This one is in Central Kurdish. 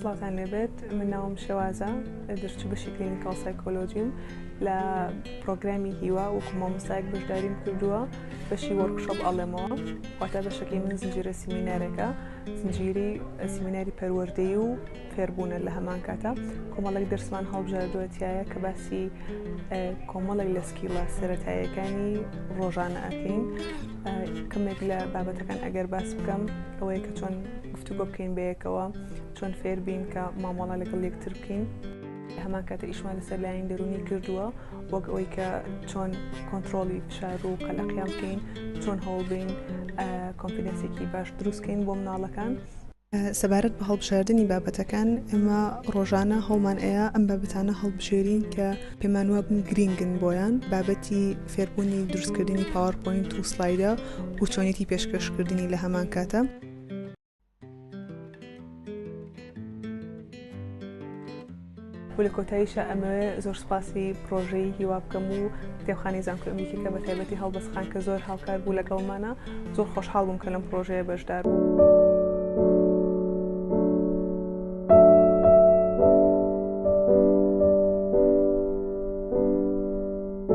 سڵاتان لێبێت من ناوم شێوازە دەرچ بەشی کلینیکال سایکۆلۆژیم لە پرۆگرامی هیوا وەکو مامۆستایەک بەشداریم کردووە بەشی وەرکشۆپ ئەڵێمەوە واتە بەشەکەی من زنجیرە سیمینارەکە زنجیری سیمیناری پەروەردەی و فێربوونە لە هەمان کاتا کۆمەڵێک دەرسمان هەڵبژاردوەتیایە کە باسی کۆمەڵێک لە سکیڵە سەتایەکانی ڕۆژانە ئەکەین کەمێک لە بابەتەکان ئەگەر باس بکەم ئەوەیە کە چۆن گفتوگۆ بکەین بەیەکەوە چۆن فێربین کە مامۆڵە لەگەڵ یەکتر بکەین. هەمان کاتە ئیشمان لەسەر لایەن دەرونی کردووە وەک ئەوەی کە چۆن کۆنتترۆلی فشار و قەلەقیان بکەین چۆن هەوڵبین کۆمپینسێکی باش دروستکەین بۆ مناڵەکان سەبارەت بە هەڵبژاردنی بابەتەکان ئێمە ڕۆژانە هەڵمان ئەیە ئەم بابەتانە هەڵبژێرین کە پێمان وابن گرینگن بۆیان بابەتی فێربوونی دروستکردنی پاوەرپۆینت و سلایدە و چۆنێتی پێشکەشکردنی لە هەمان کاتە. و لە کۆتاییشا ئەمەوێ زۆر سوپاسی پڕۆژەی هیوا بکەم و کتێبخانی زانکۆی ئەمریکی کە بە تایبەتی هەڵبەست خان کە زۆر هاوکار بوو لەگەڵمانە زۆر خۆشحاڵ بووم کە لەم پڕۆژەیە بەشدار بوو.